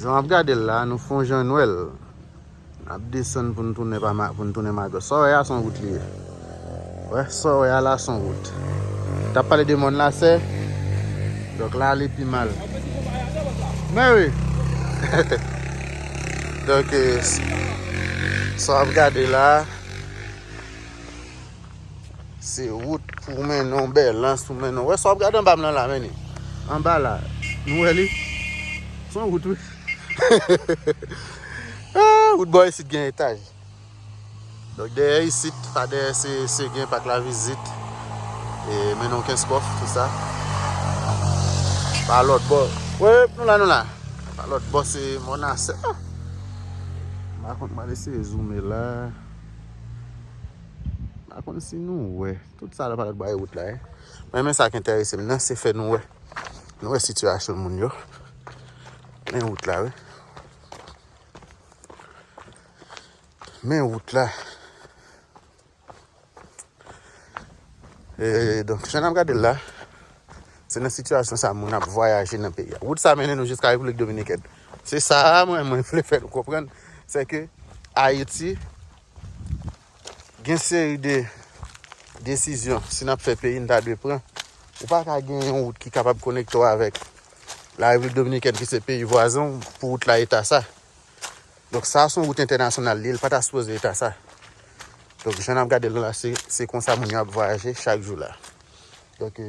Jan wap gade l la, nou fon jan nwè l. Nap desann pou n tounen pa ma, pou n tounen Magòs. Sa w wè a son wout li ye. Wè, sa w wè a la son wout. Tap pale de mòn la sè. Donk la li pi mal. Mè wi. Donk, sa wap gade la. Se wout pou w mennen w, bèlans pou mennen w. Ou wè sa w ap gade anba m lan la men ni? Anba la, nou wè li? Se yon wout wi. Wout bò isit gen etaj. Donk dèyè isit, pa dèyè se Seguen, Pak Lavizit, mennen w Kenskòf, tout sa. Pa lòt bò, wep, nou la, nou la. Pa lòt bò se Mònasè. M pa konn, m al eseye zoume la. Pa konn si nou wè. Tout sa la pa bay wout la. Mwen men sa k enterese m nan se fè nou wè. Nou wè sitiyasyon moun yo. Men wout la wè. Men wout la. E donk jan nan gade la. Se nan sitiyasyon sa moun ap vwayaje nan peyi. Wout sa menen nou jiska Replik Dominikèn. Se sa mwen mwen fle fè nou konprann. Se ke Ayiti. Gen seri de desizyon si n ap fè peyi n ta dwe pran. Ou pa ka gen yon wout ki kapab konekte w avèk La Repiblik Dominikèn ki se peyi vwazen w pou wout la eta sa. Donk sa son wout entènasyonal li, li pa ta sipoze eta sa. Donk jan n ap gade l la se konsa moun yo ap vwayaje chak jou la. Donk e...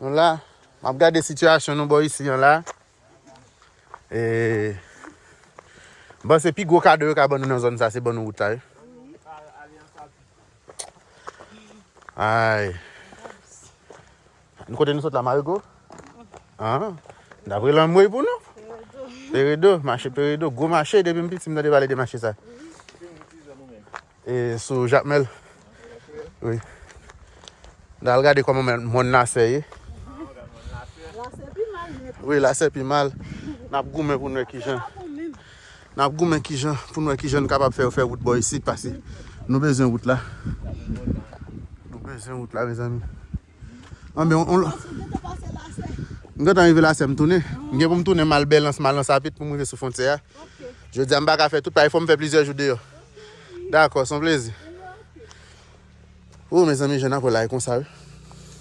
Nou la, m ap gade sitiyasyon nou bò isi an la. E bon se pi gwo kado yo ka ban nou nan zòn sa se ban nou wout la. Ay. Nou kote nou sot la Marigo? An. Dabre lan mwe pou nou? Peredo, mache peredo, gwo mache depi m piti m nan de pale de mache sa. E sou jacmel wi. Nal gade koman men mòn lasè ye. Lasè pi mal net. Wi lasè pi mal. Nap goumen pou nou wè kijan. Nap goumen kijan pou nou wè kijan nou kapab fè yo fè wout bò isit pase nou bezwen wout la. Nou bezwen wout la mezanmi. Anben on lò. Ou gen tan pase la sè? M gen tan rive la sè m tounen. M gen pou m tounen m al Bèlans, m al nan Sapit pou m rive sou fwontyè a. Ok. Jodi a m pa ka fè tout paske fò m fè plizyè jou deyò. Ok. Dakò, s on plezi. Ok. Ooh mezanmi jèn ap rele ay konsa wi.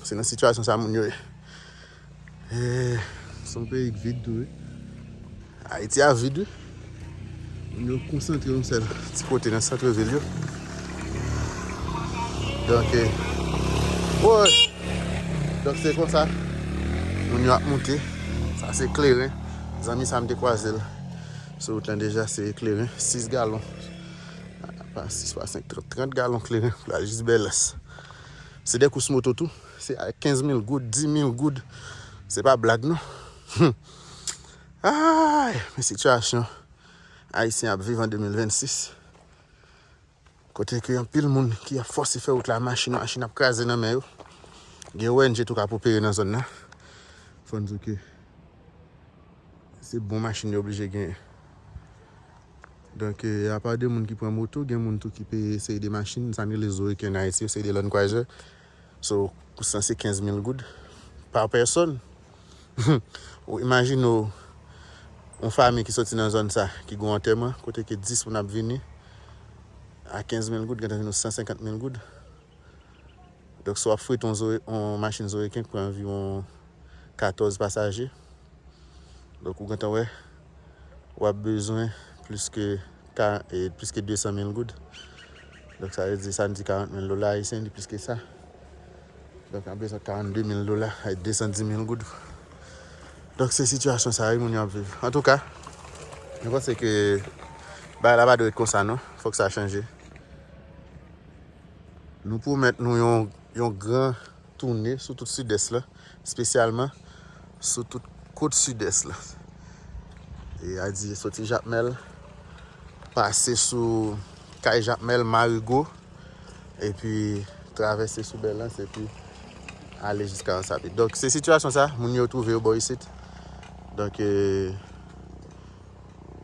Se nan sitiyasyon sa moun yo ye. Son peyi k vid tou wi. Ayiti a vid wi. Moun yo konsantre yon sèl ti kote nan santre vil yo. Donk e. Woy! Donk se konsa. Moun yo ap moute. Sa se kleren. Zanmi sa m te kwaze l. Sou wout lan deja se kleren. 6 galon. Pa 6 pa 5. 30 galon kleren. Pou l al jis bèlès. Se de kous moto tou. Se a 15 mil goud, 10 mil goud. Se pa blag non. Aayy! Men sitiyasyon Ayisyen ap viv an 2026. Kote ke anpil moun ki ap fòse fè wout la, machin, machin ap kraze nan men yo. Gen ong tou kap opere nan zòn nan. Fò n di ke se bon machin yo oblije genyen. Donk, apa de moun ki pran moto, gen moun tou ki peye seri de machin, sa nou rele zo eken an Ayiti yo, seri de lannkwazè. So pou sa se 15 mil goud pa pèsòn. Ou imajine w yon fami ki soti nan zòn sa ki gen yon antèman kote ke 10 moun ap vini a 15 mil goud gentan vin yon 150 mil goud. Donk si w ap frete yon zo, yon machin zoeken ki pran anviwon 14 pasaje, donk ou gentan wè. w ap bezwen plis ke 200 mil goud. Donk sa vle di sa n di 40 mil dola ayisyen li plis ke sa. Donk an bezwen 42 mil dola ay 210 mil goud. Donk se sitiyasyon sa yo moun yo ap viv. An tou ka, mwen panse ke bagay la pa dwe ret konsa non. Fòk sa chanje. Nou pwomèt nou yon gran. tounen sou tout sidès la, spesyalman sou tout kot sidès la. E a di soti Jakmèl, pase sou Kay Jakmèl, Marigo, epi travèse sou Bèlans, epi ale jiska Ansabi. Donk se sitiyasyon sa, moun yo twouve yo bò isit. Donk,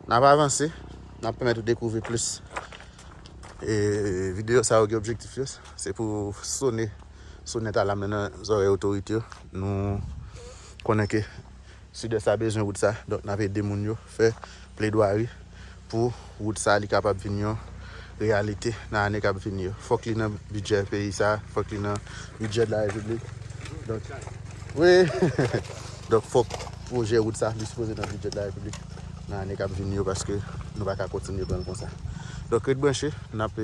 nan ap avanse, nan ap pèmèt ou dekouvri plis. E videyo sa yo gen objektif yo. Se pou sone sonèt alam nan nan zòrèy otorite yo. Nou konnen ke Sidès la bezwen wout sa, donk n ap ede moun yo fè pledwari pou wout sa li kapab vin yon reyalite nan ane k ap vini yo. Fòk li nan bidjè peyi sa, fòk li nan bidjè de la Repiblik. Donk, wi, donk fòk pwojè wout sa li sipoze nan bidjè de la Repiblik nan ane k ap vini yo paske nou pa ka kontinye pran l konsa. Donk ret branche, n ap.